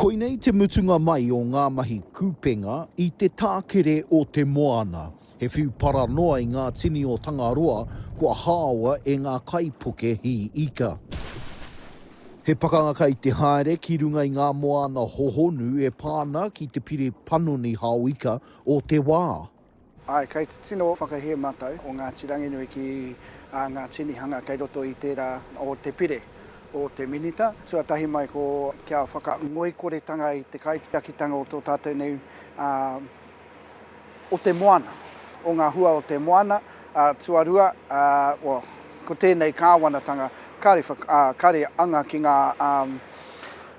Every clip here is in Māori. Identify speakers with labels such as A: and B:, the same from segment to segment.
A: Koinei te mutunga mai o ngā mahi kupenga i te tākere o te moana. He whiu para noa i ngā tini o Tangaroa kua haoa e ngā kaipuke hī ika. He pakanga kai te haere ki runga i ngā moana hohonu e pā ana ki te pire panoni hao ika o te wā. Āe, kei te
B: tino whakahē mātou o Ngāti Ranginui ki ā ngā tinihanga kei roto i tērā o te pire o te Minita, tuatahi mai ko kia whakangoikoretanga i te kaitiakitanga o tō tātou nei ā, o te moana, o ngā hua o te moana, ā, tuarua, ā, o, ko tēnei Kāwanatanga, kāre whak, ā, kāre anga ki ngā, ā,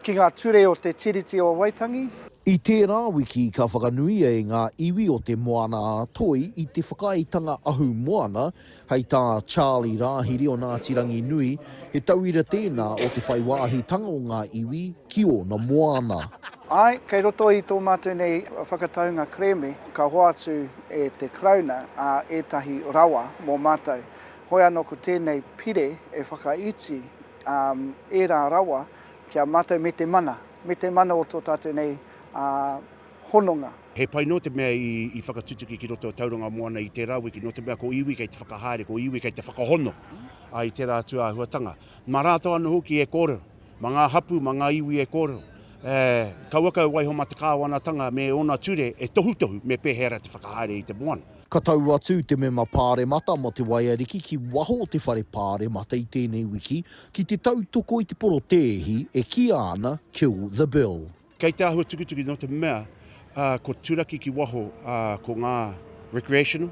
B: Ki ngā ture o te Tiriti o Waitangi. I tērā
A: wiki ka whakanuia e ngā iwi o Te Moana a Toi i te Whakaaetanga Ahu Moana hei tā Charlie Rāhiri o Ngāti Ranginui, he tauira tēnā o te whai wāhitanga o ngā iwi ki ōna moana. Āe, kei
B: roto i tō mātou nei whakataunga kerēme ka hoatu e te Karauna ētahi rawa mō mātou. Hoi anō ko tēnei pire e whakaiti ērā rawa Ki a mātou me te mana, me te mana o tō tātou nei hononga. He pai noa
C: te mea i whakatutuki ki roto o Tauranga Moana i tērā wiki, nō te mea ko iwi kei te whakahaere, ko iwi kei te whakahono i tērā atu āhuatanga. Mā rātou anō hoki e kōrero, mā ngā hapū, mā ngā iwi e kōrero, kauaka e waiho mā te Kāwanatanga me ōna ture e tohutohu me pēhea ra te whakahaere i te moana. Ka tau atu
A: te Mema Pāremata mō te Waiariki ki waho o te Whare Pāremata i tēnei wiki ki te tautoko i te porotēhi e kīa ana Kill the Bill. Kei te āhua tukituki
C: nō te mea kua turaki ki waho ko ngā recreational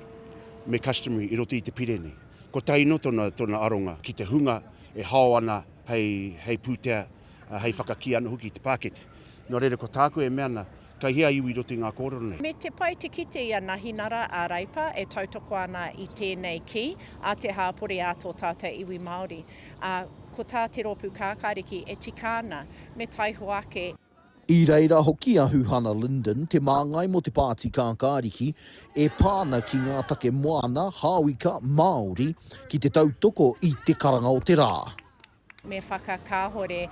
C: me customary i roto i te pire nei. Kotahi nō tōna aronga ki te hunga e hao ana hei pūtea hei whakakī anō hoki i te pākete. Nō reira, ko tāku e mea ana, kei hea iwi i roto i ngā kōrero nei? Me te pai te kite i
D: a Nahinara a Reipa e tautoko ana i tēnei kī a te hāpori ā tō tātou iwi Māori, ā, ko tā te rōpū kākāriki e tika ana, me taihoa ake. I reira
A: hoki a Huhana Lyndon, te māngai mō te pāti kākāriki, e pā ana ki ngā take moana, hāwika, Māori, ki te tautoko i te karanga o te rā. Me
D: whakakāhore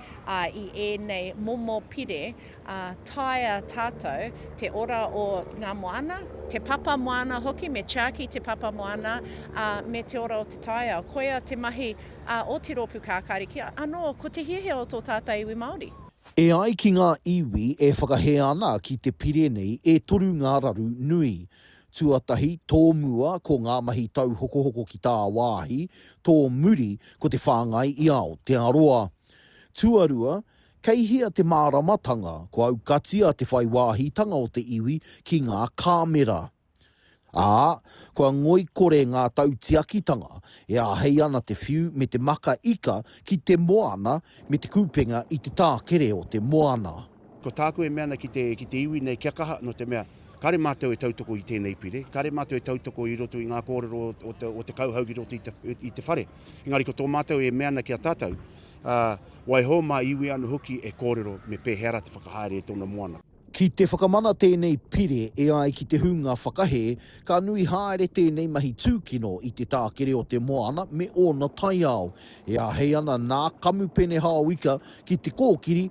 D: i ēnei momo pire, ā, taea tātou te ora o ngā moana, te papa moana hoki, me tiaki te papa moana, ā, me te ora o te taiao. Koia te mahi o te rōpū kākāri kia anō ko te hiahia o tō tātou iwi Māori. E ai ki ngā
A: iwi e whakahē ana ki te pire nei, e toru ngā raru nui. Tuatahi, tō mua, ko ngā mahi tauhokohoko ki tāwāhi, tō muri, ko te whāngai i Aotearoa. Tuarua, kei hea te māramatanga, kua aukatia te whai wāhitanga o te iwi ki ngā kāmera. Ā, kua ngoikore ngā tautiakitanga, e āhei ana te whiu me te maka ika ki te moana me te kupenga i te tākere o te moana. Ko tāku e mea
C: ana ki te, ki te iwi nei kia kaha, nō te mea, kāre mātou e tautoko i tēnei pire, kāre mātou e tautoko i roto i ngā kōrero o, o, te, o te kauhau ki roto i te, i te whare. Engari ko tō mātou e mea ana ki a tātou, ā, waiho mā iwi anō hoki e kōrero me pēhea rā te whakahaere e tōna moana. Ki te whakamana
A: tēnei pire e ai ki te hunga whakahē, ka nui haere tēnei mahi tūkino i te tākere o te moana me ōna taiao. E āhei ana nā Kamupene Hao Ika ki te kōkiri